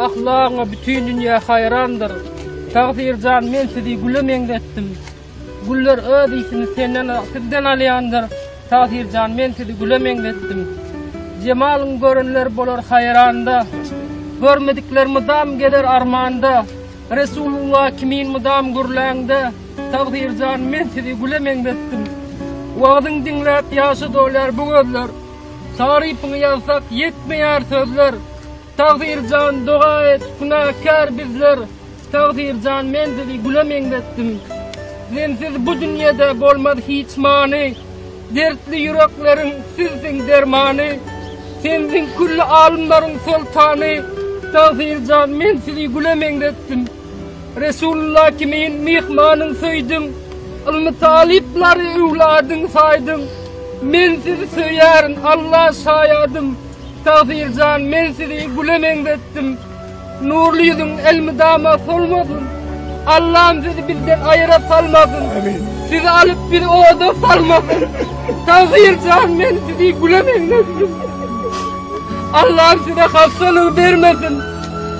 Ahlagyňa bütin dünýä haýrandyr. Tagsyr jan, men sizi güle meňzetdim. Güller öz ysini senden sigden alýandyr, Tahyr jan men sizi güle meňzetdim. Jemalyň görenler bolar haýranda, Görmedikler mydam gezer armanda, Resulullah kimin mydam gürläňde, Tahyr jan men sizi güle meňzetdim. Wagyzyň diňläp ýaşa dolýar bu gözler, Tarypyňy ýazsak ýetmeýär sözler. Takdyrjan doga et, günäkär bizler, Takdyrjan men sizi güle meňzetdim. Sensiz bu dünýede bolmaz hiç many, Dertli ýürekleriň sizsiň dermany, Sensiň külli alymlaryň soltany, Takdyrjan men sizi güle meňzetdim. Resulullah kimin myhmanyň söýdüň, Ylmy talyplary öwladyň saýdyň. Men sizi söýýärin, Alla şaýadym. Tagsyrjan men sizi güle meňzetdim. Nurly ýüzüň elmydama solmasyn. Allam sizi bizden aýra salmasyn. Sizi alyp bizi oda salmasyn. Tagsyrjan men sizi güle meňzetdim. Allam size hassalygy bermesin.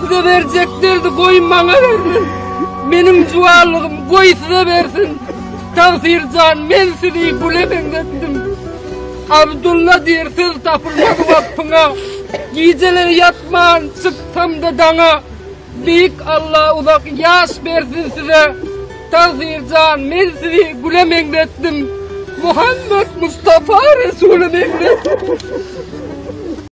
Size berjek derdi goý maňa bersin. Meniň juwanlygym goý size bersin. Tagsyrjan men sizi güle meňzetdim. Abdulla diýr söz tapylmaz waspyňa, Gijeleri ýatman çyksamda daňa, Beýik Alla uzak ýaş bersin size, Tagsyr jan men sizi güle meňzetdim, Muhammet Mustafa Resuly meňzetdim.